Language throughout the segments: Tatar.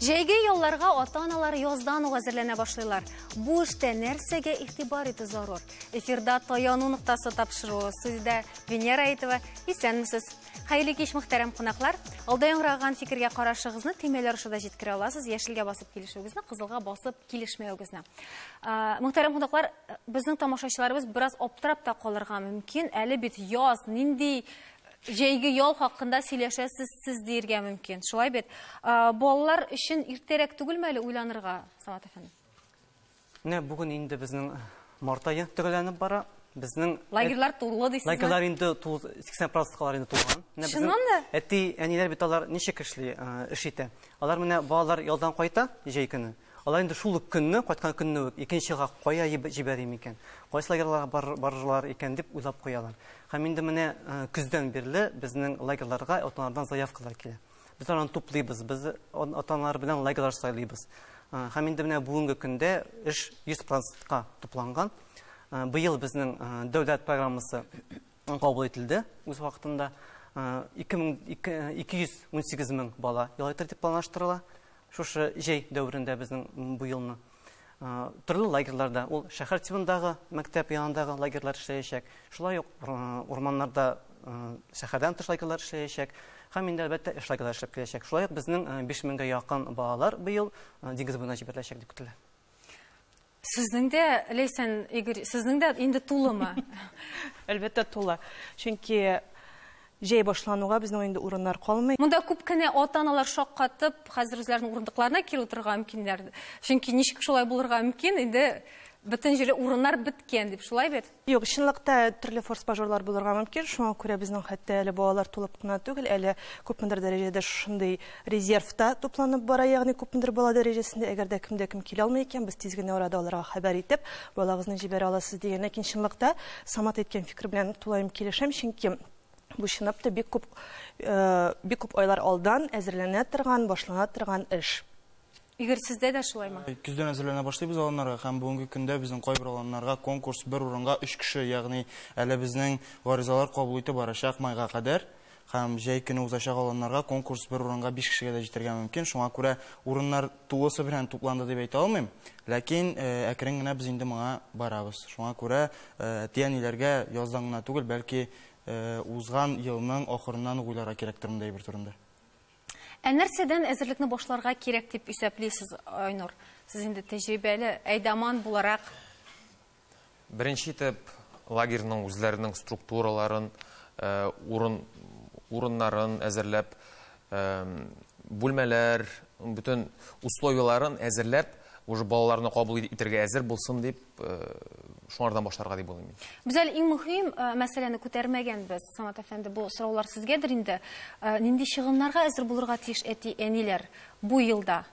Җәйге ялларга ата-аналар яздан ук әзерләнә башлыйлар. Бу эштә нәрсәгә игътибар итү зарур? Эфирда таяну ноктасы тапшыруы сүздә Венера Әйтова. Исәнмесез. Хәерле кич мөхтәрәм кунаклар. Алда яңгыраган фикергә карашыгызны төймәләр аша да җиткерә аласыз. Яшелгә басып килешүегезне, кызылга басып килешмәвегезне. Мөхтәрәм кунаклар, безнең тамашачыларыбыз бераз аптырап та калырга мөмкин. Әле бит яз, нинди җәйге ял хакында сөйләшәсез сез диергә мөмкин. Шулай бит. Балалар өчен иртәрәк түгелме әле уйланырга, Самат әфәнде? Менә бүген инде безнең март ае төгәлләнеп бара. Безнең лагерьлар тулы дисезме? Лагерьлар инде 80% калар инде тулган. Чыннан да? Әти, әниләр бит алар ничек эшли, эш итә? Алар менә балалар ялдан кайта, җәй көне. Алар инде шул ук көнне, кайткан көнне үк икенчега кая җибәрим икән, кайсы лагерьларга барырлар икән дип уйлап куялар. Һәм инде менә көздән бирле безнең лагерьларга ата-аналардан заявкалар килә. Без аларны туплыйбыз, без ата-аналар белән лагерьлар сайлыйбыз. Һәм инде менә бүгенге көндә эш 100 процентка тупланган. Быел безнең дәүләт программасы кабул ителде үз вакытында. 218 мең бала ял итәр дип планлаштырыла. Шушы җәй дәверендә безнең бу елны төрле лагерьларда, ул шәһәр тибындагы, мәктәп янындагы лагерьлар эшләячәк. Шулай ук урманнарда шәһәрдән тыш лагерьлар эшләячәк. Һәм инде әлбәттә эш лагерьлары эшләп киләчәк. Шулай ук безнең 5 меңгә якын балалар быел диңгез буена җибәреләчәк дип көтелә. Сезнең дә, Ләйсән, Игорь, сезнең дә инде тулымы? Әлбәттә, тулы. Чөнки җәй башлануга безнең инде урыннар калмый. Монда күп кенә ата-аналар шаккатып, хәзер үзләренең урындыкларына кире утырырга мөмкиннәр. Чөнки ничек шулай булырга мөмкин, инде бөтен җирле урыннар беткән дип, шулай бит? Юк, чынлыкта төрле форс-мажорлар булырга мөмкин, шуңа күрә безнең хәтта әле балалар тулып кына түгел, әле күпмедер дәрәҗәдә шушындый резерв та тупланып бара, ягъни күпмедер бала дәрәҗәсендә, әгәр дә кемдә кем килә алмый икән, без тиз генә арада аларга хәбәр итеп, балагызны җибәрә аласыз, дигән. Ләкин чынлыкта Самат әйткән фикер белән тулаем килешәм, чөнки бу чынлап та бик күп, бик күп айлар алдан әзерләнә торган, башлана торган эш. Игорь, сездә дә шулаймы? Көздән әзерләнә башлыйбыз аланнарга һәм бүгенге көндә безнең кайбер аланнарга конкурс бер урынга өч кеше, ягъни әле безнең гаризалар кабул итү барачак майга кадәр һәм җәй көне узачак аланнарга конкурс бер урынга биш кешегә дә җитәргә мөмкин. Шуңа күрә урыннар тулысы белән тупланды дип әйтә алмыйм, ләкин әкрен генә без инде моңа барабыз. Шуңа күрә әти-әниләргә яздан гына түгел, бәлки узган елның ахырыннан ук уйларга кирәктер мондый әйбер турында. Ә нәрсәдән әзерлекне башларга кирәк дип исәплисез, Айнур? Сез инде тәҗрибәле әйдаман буларак. Беренче итеп, лагерьның үзләренең структураларын, урын, урыннарын әзерләп, бүлмәләр, бөтен условияләрен әзерләп, уже балаларны кабул итәргә әзер булсын дип, шуңардан башларга дип уйлыйм мин. Без әле иң мөһим мәсьәләне күтәрмәгәнбез. Самат әфәнде, бу сораулар сезгәдер инде. Нинди чыгымнарга әзер булырга тиеш әти, әниләр бу елда?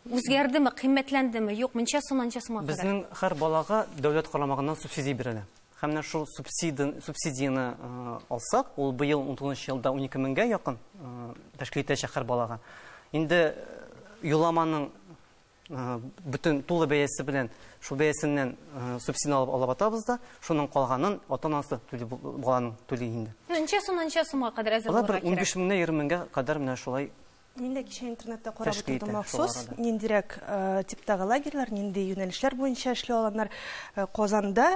Үзгәрдеме, кыйммәтләндеме, юк, мунча сум, анча сумга кадәр. Безнең һәр балага дәүләт карамагыннан субсидия бирелә. Һәм менә шул субсидияне алсак, ул быел 19 елда 12 меңгә якын тәшкил итәчәк һәр балага. Инде юламаның бөтен тулы бәясе белән шул бәясеннән субсидия алып алып атабыз да шуның калганын ата анасы түли баланың түли инде ничә сум ничә сумга кадәр әзер булырга кирәк унбиш меңнән егерме меңгә кадәр менә шулай Мин дә кичә интернетта карап утырдым махсус, ниндирәк типтагы лагерьлар, нинди юнәлешләр буенча эшли алганнар. Казанда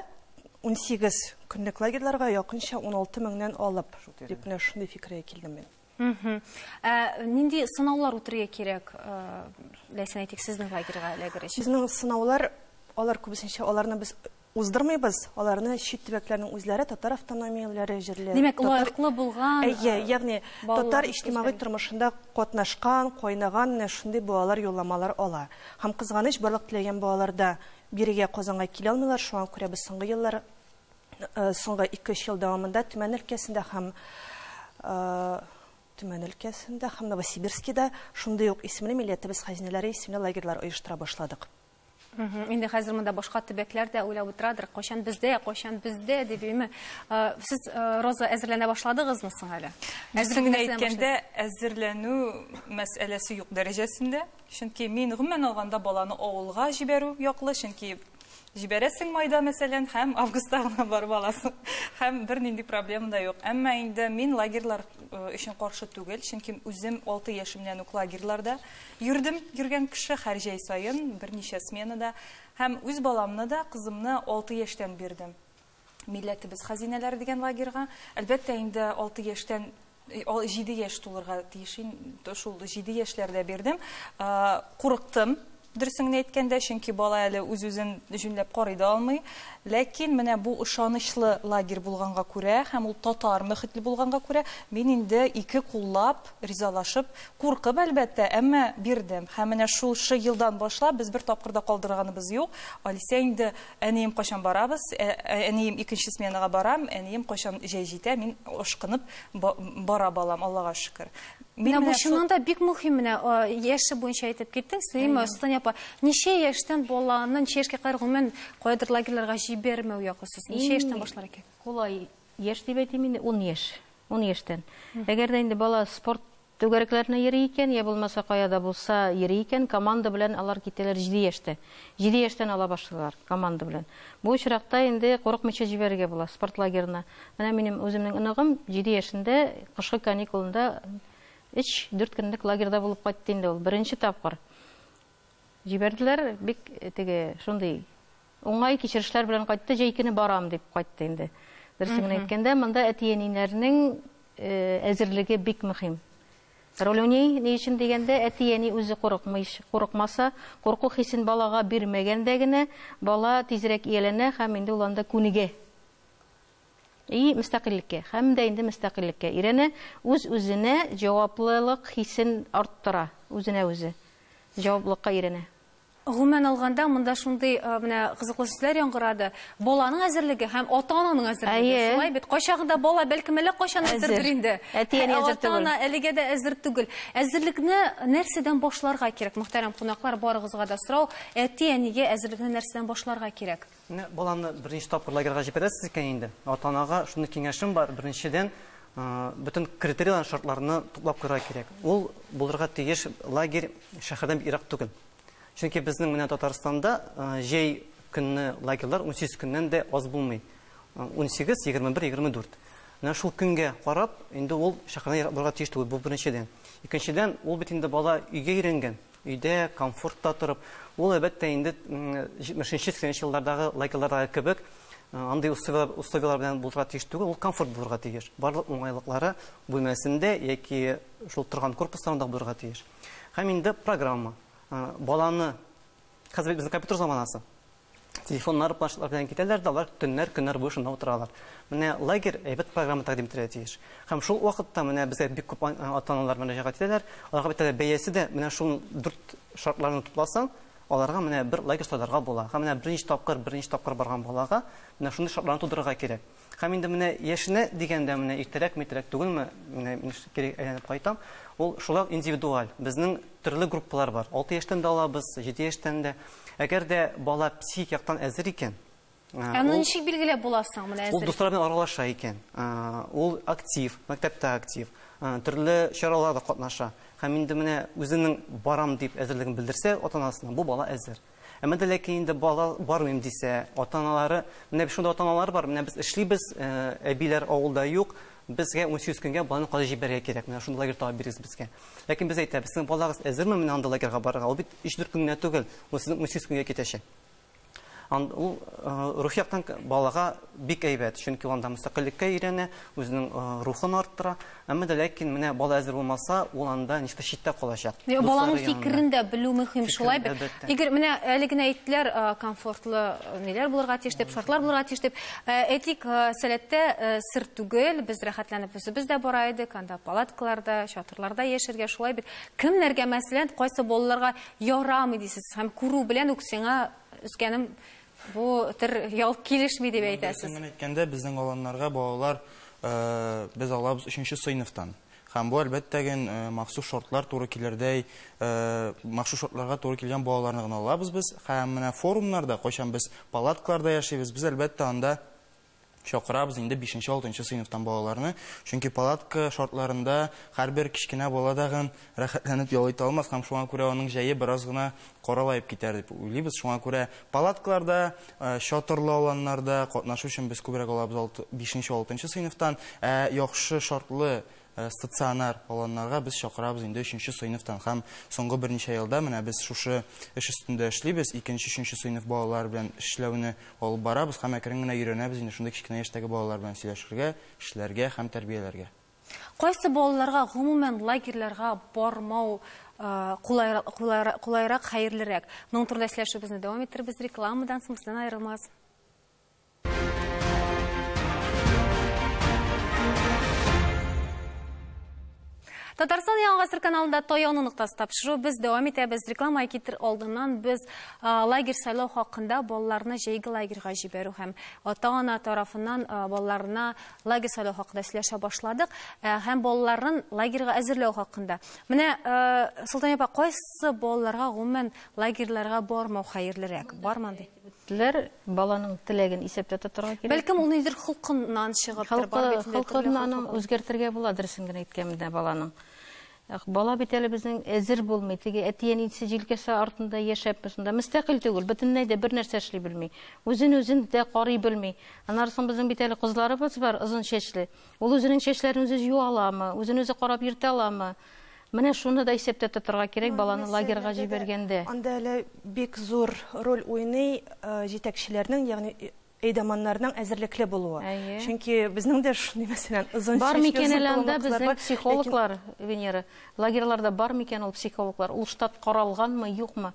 18 көнлек лагерьларга якынча 16 меңнән алып, дип менә шундый фикергә килдем мин. Ә нинди сынаулар үтергә кирәк, ләйсән әйтик, сезнең лагерьга эләгер өчен? Безнең сынаулар, алар күбесенчә, аларны без уздырмыйбыз, аларны чит төбәкләрнең үзләре, татар автономияләре җирле. Димәк, лаеклы булган. Әйе, ягъни татар иҗтимагый тормышында катнашкан, кайнаган менә шундый балалар юлламалар ала. Һәм кызганыч, барлык теләгән балалар да бирегә, Казанга килә алмыйлар, шуңа күрә без соңгы еллар соңгы ике-өч ел дәвамында Төмән өлкәсендә һәм Төмән өлкәсендә һәм Новосибирскида шундый ук исемле милләтебез хәзинәләре исемле лагерьлар оештыра башладык. Инде хәзер монда башка төбәкләр дә уйлап утырадыр, кайчан бездә, кайчан бездә дип име. Сез Роза әзерләнә башладыгызмы соң әле? Әзерләнә әйткәндә әзерләнү мәсьәләсе юк дәрәҗәсендә. Чөнки мин гомумән алганда баланы авылга җибәрү яклы, чөнки җибәрәсең майда, мәсәлән, һәм августта гына барып аласың, һәм бернинди проблема да юк. Әмма инде мин лагерьлар өчен каршы түгел, чөнки үзем алты яшемнән үк лагерьларда йөрдем, йөргән кеше, һәр җәй саен, берничә сменада, һәм үз баламны да, кызымны алты яшьтән бирдем. Милләтебез хәзинәләре дигән лагерьга. Әлбәттә, инде алты яшьтән җиде яшь тулырга тиеш инде, шул җиде яшьләрдә бирдем. Курыктым, дөресен генә әйткәндә, чөнки бала әле үз-үзен җүнләп карый да алмый. Ләкин менә бу ышанычлы лагерь булганга күрә һәм ул татар мөхитле булганга күрә, мин инде ике куллап ризалашып, куркып, әлбәттә, әмма бирдем. Һәм менә шушы елдан башлап без бер тапкыр да калдырганыбыз юк. Алисә инде Әнием, кайчан барабыз? Әнием, икенче сменага барам. Әнием, кайчан җәй җитә? Мин, ашкынып, бара балам, Аллага шөкер. Менә бу чыннан да бик мөһим менә яше буенча әйтеп киттең, Слима Султан апа. Ничә яшьтән баланы ничә яшькә кадәр гомумән кайдыр лагерьларга җибәрмәү якысыз? Ничә яшьтән башлар икән? Кулай яшь дип әйтим инде, 10 яшь. 10 яшьтән. Әгәр дә инде бала спорт Түгәрекләрне йөри икән, я булмаса кая да булса йөри икән, команда белән алар китәләр җиде яшьтә. Җиде яшьтән ала башлыйлар команда белән. Бу очракта инде курыкмыйча җибәрергә була спорт-лагерына. Менә минем үземнең оныгым җиде яшендә кышкы каникулында өч-дүрт көнлек лагерьда булып кайтты инде ул, беренче тапкыр. Җибәрделәр, бик теге шундый уңай кичерешләр белән кайтты, җәй көне барам дип кайтты инде. Берсен генә әйткәндә, монда әти-әниләрнең әзерлеге бик мөхим. Ролюни ни өчен дигәндә, әти-әни үзе курыкмый, курыкмаса, курку хисен балага бирмәгәндә генә бала тизрәк ияләнә һәм инде ул анда күнегә. И мөстәкыйльлеккә һәм дә инде мөстәкыйльлеккә өйрәнә, үз-үзенә җаваплылык хисен арттыра, үзенә үзе җаваплылыкка өйрәнә. Гомумән алганда, монда шундый менә кызыклы сүзләр яңгырады, баланың әзерлеге һәм ата-ананың әзерлеге, шулай бит? Кайчагында бала, бәлкем, әллә кайчан әзердер инде, ә ата-ана әлегә дә әзер түгел. Әзерлекне нәрсәдән башларга кирәк, мөхтәрәм кунаклар, барыгызга да сорау, әти-әнигә әзерлекне нәрсәдән башларга кирәк? Менә баланы беренче тапкыр лагерьга җибәрәсез икән инде, ата-анага шундый киңәшем бар, беренчедән, бөтен критерийларны, шартларны туплап куярга кирәк. Ул булырга тиеш лагерь шәһәрдән бик ерак түгел. Чөнки безнең менә Татарстанда җәй көнне лагерьлар унсигез көннән дә аз булмый. Унсигез, егерме бер, егерме дүрт. Менә шул көнгә карап, инде ул шәһәрдән ерак булырга тиеш түгел, бу беренчедән. Икенчедән, ул бит инде бала өйгә өйрәнгән, Өйдә, комфортта торып, ул, әлбәттә, инде 70-80 нче еллардагы лагерьлардагы кебек, андый условияләр белән булырга тиеш түгел, ул комфорт булырга тиеш. Барлык уңайлыклары бүлмәсендә яки шул торган корпусларында булырга тиеш. Һәм инде программа. Баланы, хәзер бит безнең компьютер заманасы. телефоннары планшетлар белән китәләр дә алар төннәр, көннәр буе шунда утыралар. Менә лагерь әйбәт программа тәкъдим итәргә тиеш. Һәм шул вакытта менә безгә бик күп ата-аналар мөрәҗәгать итәләр. Аларга бит әле бәясе дә менә шул дүрт шартларны тупласаң, аларга менә бер лагерь сайларга була. Һәм менә берничә тапкыр, берничә тапкыр барган балага менә шундый шартларны тудырырга кирәк. Һәм инде менә яшенә дигәндә менә иртәрәк митрәк түгелме, менә мин кире әйләнеп кайтам, ул шулай ук индивидуаль. Безнең төрле группалар бар. 6 яшьтән дә алабыз, 7 яшьтән дә. Әгәр дә бала психик яктан әзер икән, Ә моны ничек билгеләп була соң менә әзер? Ул дуслар белән аралаша икән. Ул актив, мәктәптә актив, төрле чараларда катнаша. Һәм инде менә үзенең барам дип әзерлеген белдерсә ата-анасына, бу бала әзер. Әмма дә ләкин инде балалар бармыйм дисә, ата-аналары, менә шундый ата-аналар бар, менә без эшлибез, әбиләр авылда юк, безгә унсигез көнгә баланы кайтарып җибәрергә кирәк, менә шундый лагерь табып бирегез безгә. Ләкин без әйтәбез, сезнең балагыз әзерме менә андый лагерьга барырга? Ул бит өч-дүрт көн генә түгел, ул сезнең унсигез көнгә китәчәк. Анда ул рухи яктан балага бик әйбәт, чөнки ул анда мөстәкыйльлеккә өйрәнә, үзенең рухын арттыра, Әмма дә ләкин менә бала әзер булмаса, ул анда ничектер читтә калачак. Йә, Баланың фикерен дә белү мөһим шулай бит. Игорь, менә әле генә әйттеләр, комфортлы ниләр булырга тиеш дип, шартлар булырга тиеш дип. Әйтик, сәләттә сер түгел, без рәхәтләнеп үзебез дә бара идек, анда палаткаларда, чатырларда яшәргә шулай бит. Кемнәргә мәсәлән, кайсы балаларга ярамый дисез? Һәм күрү белән үк сиңа үскәнем Бу төр ял килешми дип әйтәсез. Дөресен әйткәндә, безнең аланнарга балалар э, без алабыз өченче сыйныфтан. Һәм бу әлбәттә генә э, махсус шортлар туры килердәй, э, махсус шортларга туры килгән балаларны гына алабыз без. Һәм менә форумнарда, кайчан без палаткаларда яшибез, без әлбәттә анда чакырабыз инде бишенче-алтынчы сыйныфтан балаларны, чөнки палатка шартларында һәрбер кечкенә бала тагын рәхәтләнеп ял итә алмас һәм шуңа күрә аның җәе бераз гына каралаеп китәр дип уйлыйбыз, шуңа күрә палаткаларда, чатырлы аланнарда катнашу өчен без күбрәк алабыз алты, бишенче-алтынчы сыйныфтан, ә яхшы шартлы Стационар аланнарга без чакырабыз инде өченче сыйныфтан һәм соңгы берничә елда менә без шушы эш өстендә эшлибез, икенче, өченче сыйныф балалары белән эшләүне алып барабыз һәм әкрен генә өйрәнәбез инде шундый кечкенә яшьтәге балалар белән сөйләшергә, эшләргә һәм тәрбияләргә. Кайсы балаларга гомумән лагерьларга бармау кулайрак, хәерлерәк? Моның турында сөйләшүебезне дәвам иттербез рекламадан соң, бездән аерылмагыз. Татарстан яңа гасыр каналында таяуны ноктасы тапшыру без дәвам итәбез. Реклама китер алдыннан без а, лагерь сайлау хакында балаларны җәйге лагерьга җибәрү һәм ата-ана тарафыннан а, балаларына лагерь сайлау хакында сөйләшә башладык а, һәм балаларын лагерьга әзерләү хакында. Менә а, Солтан апа, кайсы балаларга гомумән лагерьларга бармау хәерлерәк? Барман ди. Теләр, баланың теләген исәптә тотарга кирәк. Бәлкем ул нидер холкыннан чыгыптыр, бар бит инде төрле холкы. Аны үзгәртергә була, дөресен генә әйткәндә баланың. Бала бит әле безнең әзер булмый, теге әти-әнисе җилкәсе артында яшәп, шунда мөстәкыйль түгел, бөтенләй дә бер нәрсә эшли белми. Үзен-үзен дә карый белми. Анарсын безнең бит әле кызларыбыз бар, озын чәчле. Ул үзенең чәчләрен үзе юа аламы, үзен-үзе карап йөртә аламы? Менә шуны да исәптә тотарга кирәк, ну, баланы лагерьга җибәргәндә. Анда әле бик зур роль уйный э, җитәкчеләрнең, ягъни э, әйдаманнарның әзерлекле булуы. Әйе. Чөнки безнең дә шундый мәсәлән озын бар микән әле анда безнең психологлар, ләкин... Венера, лагерьларда бар микән ул психологлар? Ул штат каралганмы, юкмы?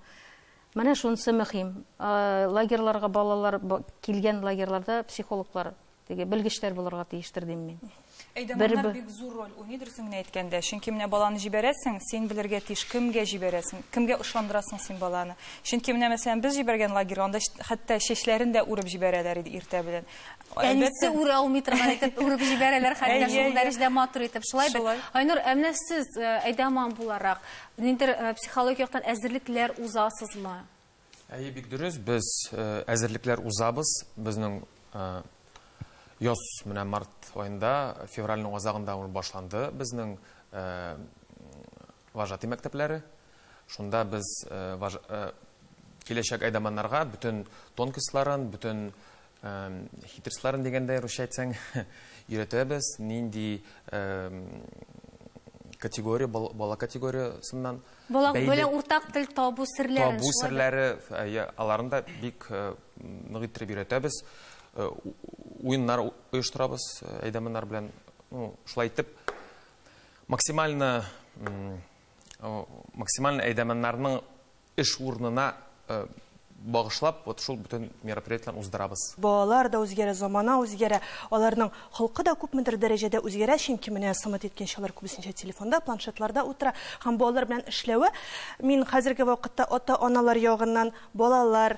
Менә шунысы мөһим. Э, лагерьларга балалар килгән лагерьларда психологлар Теге белгечләр булырга тиештер дим мин. Әйдәманнар бик зур роль уйный дөресен генә әйткәндә. Чөнки менә баланы җибәрәсең, син белергә тиеш, кемгә җибәрәсең, кемгә ышандырасың син баланы. Чөнки менә мәсәлән без җибәргән лагерь, анда хәтта чәчләрен дә үреп җибәрәләр иде иртә белән. Әнисе үрә алмый торган итеп үреп җибәрәләр, хәтта шул дәрәҗәдә матур итеп. Шулай бит. Айнур, ә менә сез э, әйдәман буларак, ниндер э, психологик яктан әзерлекләр узасызмы? Әйе, бик дөрес, без әзерлекләр узабыз. Безнең яз менә март аенда, февральның азагында ул башланды безнең вожатый мәктәпләре. Шунда без киләчәк әйдаманнарга бөтен тонкисларын, бөтен Хитрсларын дигәндә, русча әйтсәң, өйрәтәбез, нинди категория, бала категориясыннан. Бала белән уртак тел табу серләрен. Табу серләре, аларын да бик нык иттереп өйрәтәбез. Уеннар оештырабыз әйдәманнар белән. Шулай итеп, максимально әйдәманнарның Эш урынына багышлап вот шул бөтен мероприятиеләрне уздырабыз. Балалар да үзгәрә, замана үзгәрә, аларның холкы да күпмедер дәрәҗәдә үзгәрә, чөнки менә Самат әйткәнчә, алар күбесенчә телефонда, планшетларда утыра һәм бу алар белән эшләве, мин хәзерге вакытта ата-аналар ягыннан балалар,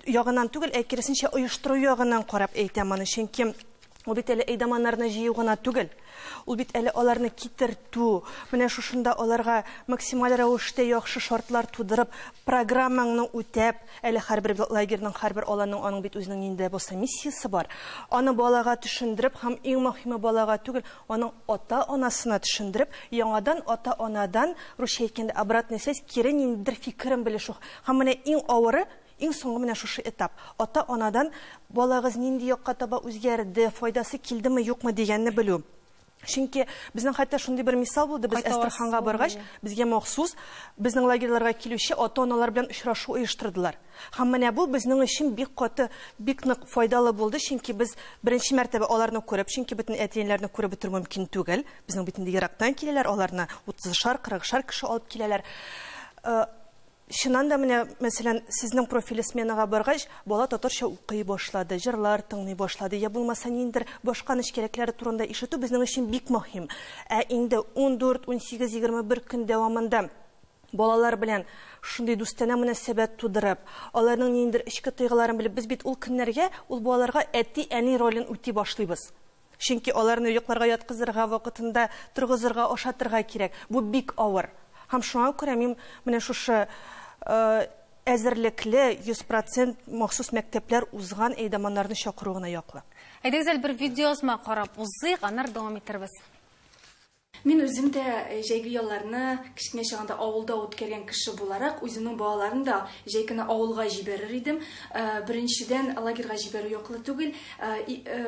ягыннан түгел, ә киресенчә оештыру ягыннан карап әйтәм аны, чөнки ул бит әле әйдаманнарны җыю гына түгел, ул бит әле аларны китертү, менә шушында аларга максималь рәвештә яхшы шартлар тудырып, программаңны үтәп, әле һәрбер лагерьның, һәрбер аланның аның бит үзенең нинди дә булса миссиясе бар, аны балага төшендереп һәм иң мөһиме балага түгел, аның ата-анасына төшендереп, яңадан ата-анадан, русча әйткәндә, обратная связь, кире ниндидер фикерен белешү. Һәм менә иң авыры, иң соңгы менә шушы этап. Ата-анадан балагыз нинди якка таба үзгәрде, файдасы килдеме, юкмы дигәнне белү. Чөнки безнең хәтта шундый бер мисал булды, без Әстерханга баргач, безгә махсус безнең лагерьларга килүче ата-аналар белән очрашу оештырдылар. Һәм менә бу безнең өчен бик каты, бик нык файдалы булды, чөнки без беренче мәртәбә аларны күреп, чөнки бөтен әти-әниләрне күреп бетерү мөмкин түгел, безнең бит инде ерактан киләләр, аларны утызышар, кырыгышар кеше алып киләләр. Чыннан да, менә, мәсәлән, сезнең профиле сменага баргач, бала татарча укый башлады, җырлар тыңлый башлады, я булмаса ниндидер башка нечкәлекләре турында ишетү безнең өчен бик мөһим. Ә инде ундүрт, унсигез, егерме бер көн дәвамында балалар белән шундый дустанә мөнәсәбәт тудырып, аларның ниндидер эчке тойгыларын белеп, без бит ул көннәргә, ул балаларга әти-әни ролен үти башлыйбыз. Чөнки аларны йокларга яткызырга, вакытында торгызырга, ашатырга кирәк. Бу бик авыр. Һәм шуңа күрә мин менә шушы әзерлекле, 100 процент махсус мәктәпләр узган әйдаманнарны чакыру гына яклы. Әйдәгез әле бер видеоязма карап узыйк, аннары дәвам итербез. Мин үзем дә җәйге ялларны кечкенә чагында авылда үткәргән кеше буларак, үземнең балаларын да җәй көне авылга җибәрер идем. Беренчедән, лагерьга җибәрү яклы түгел.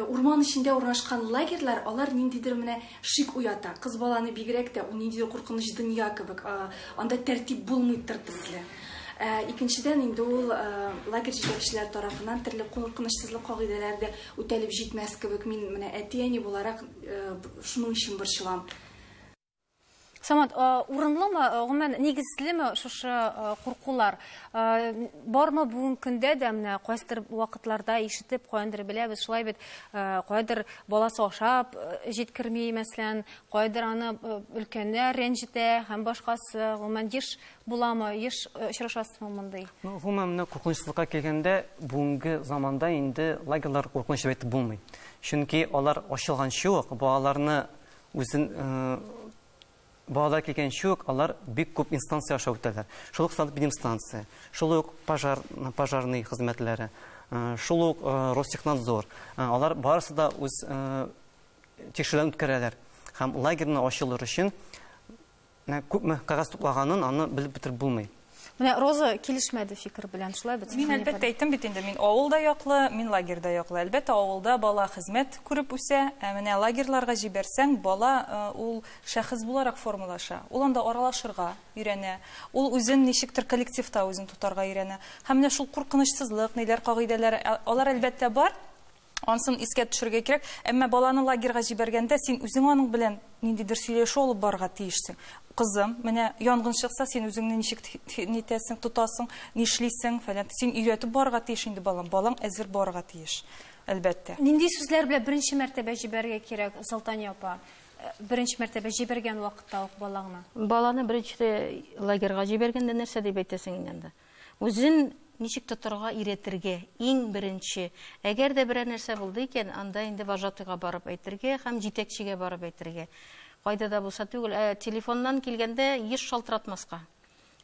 Урман эчендә урнашкан лагерьлар, алар ниндидер менә шик уята. Кыз баланы бигрәк тә, ул ниндидер куркыныч дөнья кебек. Анда тәртип булмый тыр төсле. Икенчедән, инде ул лагерь җитәкчеләре тарафыннан төрле куркынычсызлык кагыйдәләре дә үтәлеп җитмәс кебек. Мин менә әти-әни буларак, Шуның өчен борчылам. Самат, урынлымы, гомумән, нигезлеме шушы куркулар? Бармы бүгенге көндә дә менә кайсыдыр вакытларда ишетеп, каяндыр беләбез, шулай бит, каядыр баласы ашап җиткерми, мәсәлән, каядыр аны өлкәннәр рәнҗетә һәм башкасы. Гомумән, еш буламы, еш очрашасызмы мондый? Ну, гомумән, менә куркынычсызлыкка килгәндә, бүгенге заманда инде лагерьлар куркыныч дип әйтеп булмый. Чөнки алар ачылганчы ук, балаларны үзен балалар килгәнче үк алар бик күп инстанция аша үтәләр. Шул ук санэпидемстанция, шул ук пожар, пожарный хезмәтләре, шул ук Ростехнадзор. Алар барысы да үз тикшерүләрен үткәрәләр. Һәм лагерьны ачылыр өчен Менә күпме кәгазь туплаганын аны белеп бетереп булмый. Менә Роза килешмәде фикер белән, шулай бит? Мин әлбәттә әйттем бит инде, мин авыл да яклы, мин лагерь да яклы. Әлбәттә, авылда бала хезмәт күреп үсә, ә менә лагерьларга җибәрсәң, бала ул шәхес буларак формалаша. Ул анда аралашырга өйрәнә, ул үзен ничектер коллективта үзен тотарга өйрәнә. Һәм менә шул куркынычсызлык, ниләр кагыйдәләр, алар әлбәттә бар. Ансын искә төшерергә кирәк. Әмма баланы лагерга җибәргәндә, син үзең аның белән ниндидер сөйләшү алып барырга тиешсең. Кызым, менә янгын чыкса, син үзеңне ничек нитәсең, тотасың, нишлисең, фәлән. Син өйрәтеп барырга тиеш инде балам. Балаң әзер барырга тиеш, әлбәттә. Нинди сүзләр белән беренче мәртәбә җибәрергә кирәк, Солтания апа? Э, беренче мәртәбә җибәргән вакытта ук балаңны. Баланы беренче лагерга җибәргәндә нәрсә дип әйтәсең инде анда? Үзен ничек тотарга өйрәтергә, иң беренче, әгәр дә берәр нәрсә булды икән, анда инде вожатыйга барып әйтергә һәм җитәкчегә барып әйтергә. Кайда да булса түгел, ә телефоннан килгәндә еш шалтыратмаска.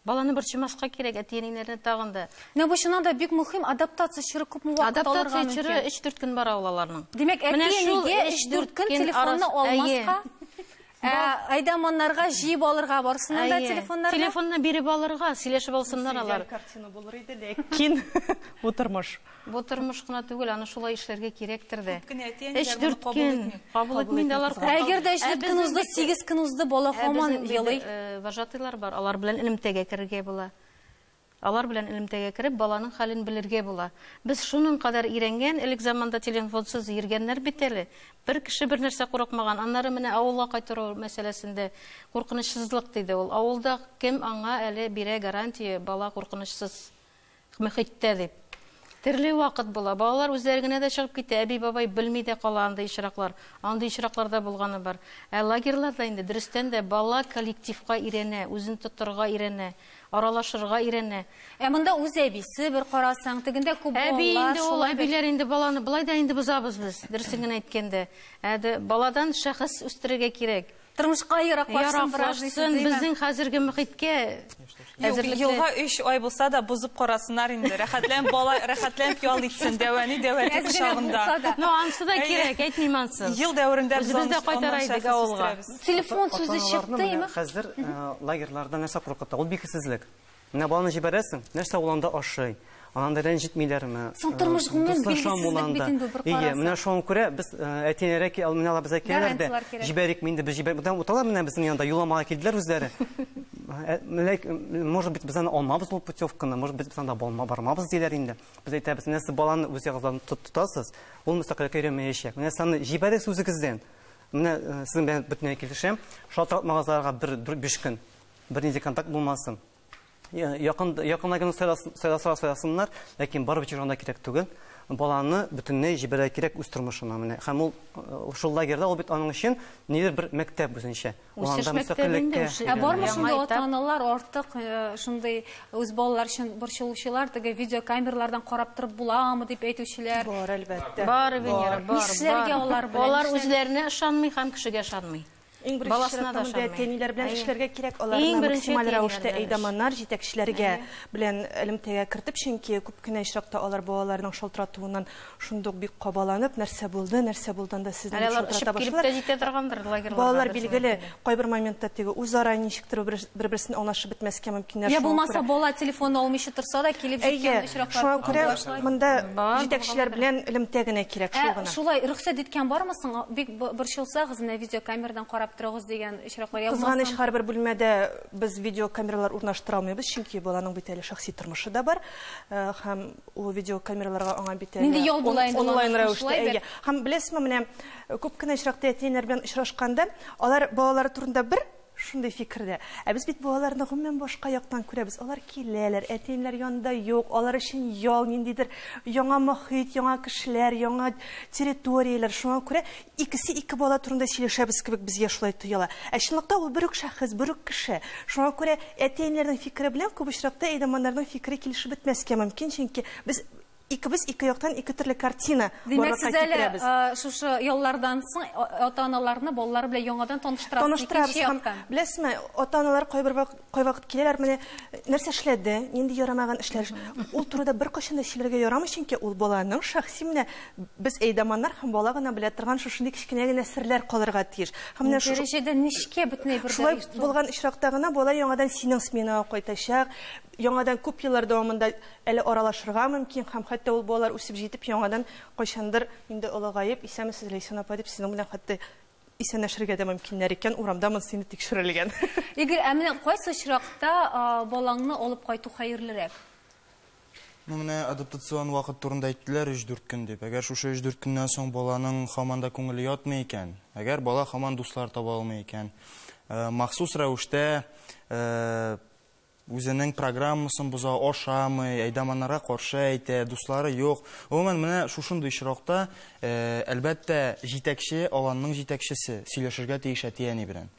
Баланы борчымаска кирәк, әти-әниләрне тагын да. Менә бу чыннан да бик мөһим, адаптация чоры күпме вакыт алырга мөмкин? Адаптация чоры 3-4 көн бара ул аларның. Димәк, әти-әнигә 3-4 көн телефонны алмаска? Ә айдаманнарга җыеп алырга барсыннан да телефоннарны? Телефонны биреп алырга, сөйләшеп алсыннар алар. Картина булыр иде, ләкин бу тормыш. Бу тормыш кына түгел, аны шулай эшләргә кирәктер дә. Эш дүрт көн. Кабул итмин дә алар. Әгәр дә эшләп көн узды, 8 көн узды, бала һаман елый. Вожатыйлар бар, алар белән элемтәгә керергә була. Алар белән элемтәгә кереп, баланың хәлен белергә була. Без шуның кадәр ирәнгән, элек заманда теленфонсыз йөргәннәр бит әле. Бер кеше бер нәрсә курыкмаган. Аннары менә авылга кайтару мәсьәләсендә куркынычсызлык, диде ул. Авылда кем аңа әле бирә гарантия, бала куркынычсыз мөхиттә дип. Төрле вакыт була. Балалар үзләре генә дә чыгып китә, әби-бабай белми дә кала андый очраклар. Андый очраклар да булганы бар. Ә лагерьларда инде, дөрестән дә, бала коллективка өйрәнә, үзен тотарга өйрәнә. Аралашырга өйрәнә. Ә монда үз әбисе бер карасаң, тегендә күп балалар. Әби инде ул, әбиләр инде баланы болай да инде бозабыз без, дөресен генә әйткәндә. Ә баладан шәхес үстерергә кирәк. Тормышка яраклашсын бераз дисез, димени? Яраклашсын, безнең хәзерге мөхиткә әзерлекле. Елга өч ай булса да, бозып карасыннар инде. Рәхәтләнеп бала, рәхәтләнеп ял итсен, дәвәни, дәвәти кочагында. Ну, ансы да кирәк, әйтмим ансын. Ел дәверендә без аны шәхес үстерәбез. Телефон сүзе чыкты име? Хәзер э, лагерьларда нәрсә куркыта? Ул бикесезлек. Менә баланы җибәрәсең, нәрсә ул анда ашый? Ананда рәнҗетмиләрме? Соң э, тормыш гомумән билгесезлек бит инде бер карасаң. Ие, менә шуңа күрә без э, әтиләре ки, менә алар безгә киләләр дә, җибәрик инде без җибәрик. Бүтән уталар менә безнең янда, юламага килделәр үзләре. Может быть, без аны алмабыз ул путевканы, может быть, без анда бармабыз диләр инде. Без әйтәбез, менә сез баланы үз ягыгыздан тотасыз, ул мөстәкыйлькә өйрәнмәячәк. Менә саны җибәрик сүзегездән. Менә сезнең белән бөтенләй килешәм. Шалтыратмагыз аларга бер биш көн. Бернинди контакт булмасын. Якын якыннан гына сайласалар сайласыннар, ләкин барып җырлана кирәк түгел. Баланы бөтенләй җибәрә кирәк үз тормышына менә. Һәм ул шул лагерьда ул бит аның өчен нидер бер мәктәп үзенчә. Үсеш мәктәбендә. Ә бармы шунда ата-аналар артык шундый Үз балалар өчен борчылучылар, теге видеокамерлардан карап торып буламы дип әйтүчеләр. Бар, әлбәттә. Бар, Венера, бар. Нишләргә алар белән? Алар үзләренә ышанмый һәм кешегә ышанмый. Иң беренче чиратта монда әти-әниләр белән эшләргә кирәк, аларны максималь рәвештә әйдаманнар, җитәкчеләргә белән элемтәгә кертеп, чөнки күп кенә очракта алар балаларның шалтыратуыннан Шундук бик кабаланып, нәрсә булды, нәрсә булды анда сезне дип шылтырата башлар. Балалар билгеле, кайбер моментта теге үзара ничектер бер-берсен аңлашып бетмәскә мөмкиннәр. Я булмаса бала телефон алмыйча торса да килеп җиткән очраклар. Шуңа күрә монда җитәкчеләр белән элемтә генә кирәк шул гына. Шулай рөхсәт иткән бармы соң? Бик борчылсагыз, менә видеокамерадан карап торыгыз дигән очраклар. Кызганыч, һәрбер бүлмәдә без видеокамералар урнаштыра алмыйбыз, чөнки баланың бит әле шәхси тормышы да бар. Һәм Ул видео камераларга аңа бит әле онлайн рәвештә. Әйе. Һәм беләсезме, менә күп кенә очракта әти-әниләр белән очрашканда, алар балалары турында бер шундый фикердә. Ә без бит балаларны гомумән башка яктан күрәбез. Алар киләләр, әти-әниләр янында юк, алар өчен ял, ниндидер яңа мохит, яңа кешеләр, яңа территорияләр. Шуңа күрә Икесе ике бала турында сөйләшәбез кебек безгә шулай тоела. Ә чынлыкта ул бер үк шәхес, бер үк кеше. Шуңа күрә әти-әниләрнең фикере белән күп очракта әйдаманнарның фикере килешеп бетмәскә мөмкин, чөнки без икебез ике яктан ике төрле картина барлыкка китерәбез. Димәк, сез әле шушы яллардан соң ата-аналарны балалар белән яңадан таныштырасыз икенче яктан. Таныштырабыз. Беләсезме, ата-аналар кайбер вакыт Кайвакыт киләләр, менә нәрсә эшләде, нинди ярамаган эшләр. Ул турыда беркайчан да сөйләргә ярамый, чөнки ул баланың шәхси менә без әйдаманнар һәм бала гына белә торган шушындый кечкенә генә серләр калырга тиеш. Һәм менә шушы дәрәҗәдә нечкә бөтенләй бер Шулай булган очракта гына бала яңадан синең сменага кайтачак, яңадан күп еллар дәвамында әле аралашырга мөмкин һәм хәтта ул балалар үсеп җитеп яңадан кайчандыр инде олыгаеп, исәнмесез, Ләйсән апа, дип сезнең белән хәтта исәнләшергә дә мөмкиннәр икән, урамда монысы инде тикшерелгән. Игорь, ә менә кайсы очракта балаңны алып кайту хәерлерәк? Ну, менә адаптацион вакыт турында әйттеләр 3-4 көн дип. Әгәр шушы 3-4 көннән соң баланың хаман да күңеле ятмый икән, әгәр бала хаман дуслар таба алмый икән, э, махсус рәвештә э, Үзенең программасын боза, ашамый, әйдаманнарга каршы әйтә, дуслары юк. Гомумән, менә шушындый очракта, әлбәттә, җитәкче, аланның җитәкчесе, сөйләшергә тиеш әти-әни белән.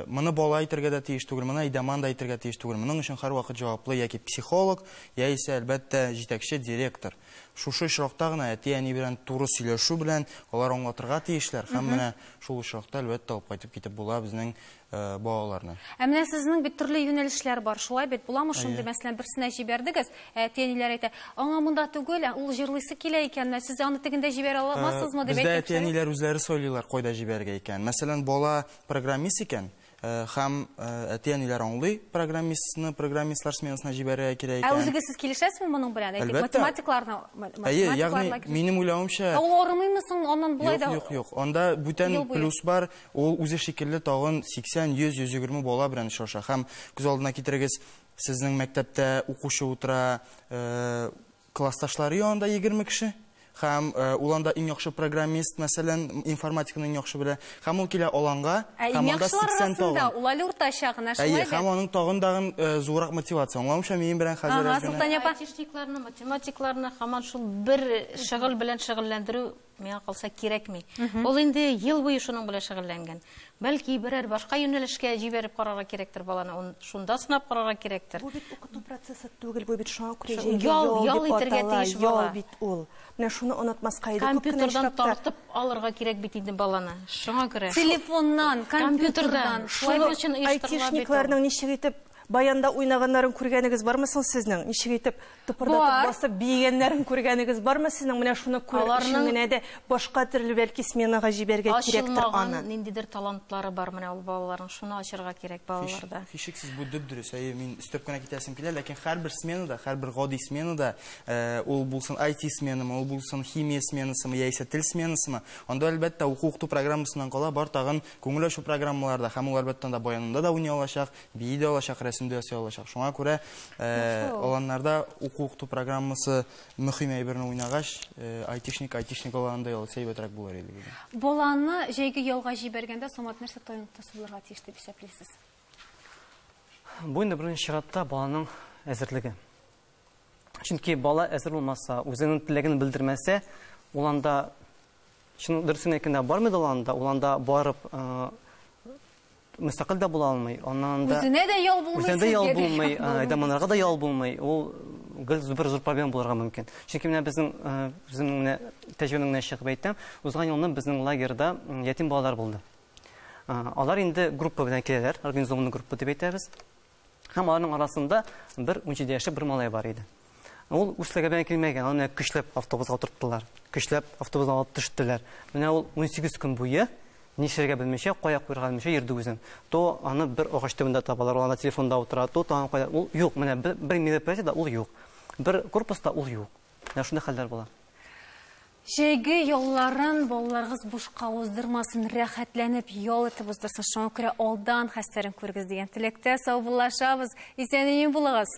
Моны бала әйтергә дә тиеш түгел, моны әйдаман да әйтергә тиеш түгел. Моның өчен һәрвакыт җаваплы яки психолог, яисә, әлбәттә, җитәкче, директор. Шушы очракта гына әти-әни белән туры сөйләшү белән алар аңлатырга тиешләр һәм менә шул очракта, әлбәттә, алып кайтып китеп була безнең балаларны. Ә менә сезнең бит төрле юнәлешләр бар, шулай бит? Буламы шундый, мәсәлән, берсенә җибәрдегез, әти-әниләр әйтә, аңа монда түгел, ә ул җырлыйсы килә икән, менә сез аны тегендә җибәрә алмассызмы дип әйтәчәк. Бездә әти-әниләр үзләре сайлыйлар, кайда җибәрергә икәнен. Мәсәлән, бала программист икән, һәм әти-әниләр аңлый, программистны программистлар сменасына җибәрергә кирәк икән. Ә үзегез сез килешәсезме моның белән? Әлбәттә. Математикларны, математикларны. Әйе, ягъни минем уйлавымча. Ә ул арымыймы соң аннан болай да? Юк, юк, юк. Анда бүтән плюс бар, Ул үзе шикелле тагын 80-100-120 бала белән очраша. Һәм күз алдына китерегез, сезнең мәктәптә укучы утыра, э, классташлары янында 20 кеше, һәм э, ул анда иң яхшы программист, мәсәлән, информатиканы иң яхшы белә, һәм ул килә аланга, Ә һәм иң анда яхшылар 80 арасында тагын. ул әле уртача гына, Әйе, шулай һәм бит? аның тагын тагын э, зуррак мотивация. Аңламыйча минем белән хәзер Ага, әз генә. Солтан апа. Айтишникларны, математикларны һаман шул бер шөгыль белән шөгыльләндерү Миңа калса кирәкми. Ул инде ел буе шуның белән шөгыльләнгән. Бәлки берәр башка юнәлешкә җибәреп карарга кирәктер баланы, ун шунда сынап карарга кирәктер. Бу бит укыту процессы түгел, бу бит шуңа күрә җәйге ял, ял итәргә тиеш бала. Ял бит ул. Менә шуны онытмаска иде. Компьютердан тартып алырга кирәк бит инде баланы. Шуңа күрә. Телефоннан, компьютердан. Шулай өчен оештырыла бит. Айтишникларның ничек итеп баянда уйнаганнарын күргәнегез бармы соң сезнең? Ничек итеп Тыпырдатып Бар. басып биегәннәрен күргәнегез бармы сезнең? Менә шуны күрер өчен Аларның- генә дә башка төрле бәлки сменага җибәрергә кирәктер Ачылмаган аны. ниндидер талантлары бар менә ул балаларның. Шуны ачырга кирәк балаларда. Һичшиксез бу дөп-дөрес. Әйе, мин өстәп кенә китәсем килә, ләкин һәрбер сменада, һәрбер гади сменада, э, ул булсын IT сменамы, ул булсын химия сменасымы яисә тел сменасымы, анда әлбәттә уку-укыту программасыннан кала бар тагын күңел ачу программалары да һәм ул әлбәттә анда баянында да уйный алачак, Бии дә алачак, рәсем дә ясый алачак. Шуңа күрә аланнарда уку-укыту программасы мөһим әйберне уйнагач, айтишник, айтишник аланында ял итсә әйбәтрәк булыр иде. Баланы җәйге ялга җибәргәндә Самат нәрсә тайныктысы булырга тиеш дип исәплисез? Бу инде беренче чиратта баланың әзерлеге. Чөнки бала әзер булмаса, үзенең теләген белдермәсә, ул анда чын дөресен әйткәндә бармый да ул анда, ул анда барып Мөстәкыйль дә була алмый. Аннан анда Үзенә дә ял булмый, Үзенә дә ял сезгә дә булмый, ял ә, әйдә монарга да ял булмый. Ул гел бер зур проблема булырга мөмкин. Чөнки менә безнең э, үземнең менә тәҗрибәмнән генә чыгып әйтәм, узган елны безнең лагерьда м, ятим балалар булды. А, Алар инде группа белән киләләр, организованный группа дип әйтәбез. Һәм аларның арасында бер унҗиде яшьлек бер малай бар иде. Ул үз теләгенә килмәгән, аны көчләп автобусга утырттылар. Көчләп автобусга алып төштеләр. Менә ул 18 көн буе нишләргә белмичә, кая куярга белмичә йөрде үзен. То аны бер агач төбендә табалар, ул телефонда утыра, то тагын кая. Ул юк, менә бер, бер мероприятиедә ул юк. Бер корпуста ул юк. Менә шундый хәлләр була. Җәйге ялларын балаларыгыз бушка уздырмасын, рәхәтләнеп ял итеп уздырсын. Шуңа күрә алдан хәстәрен күрегез дигән теләктә саубуллашабыз. Исән имин булыгыз.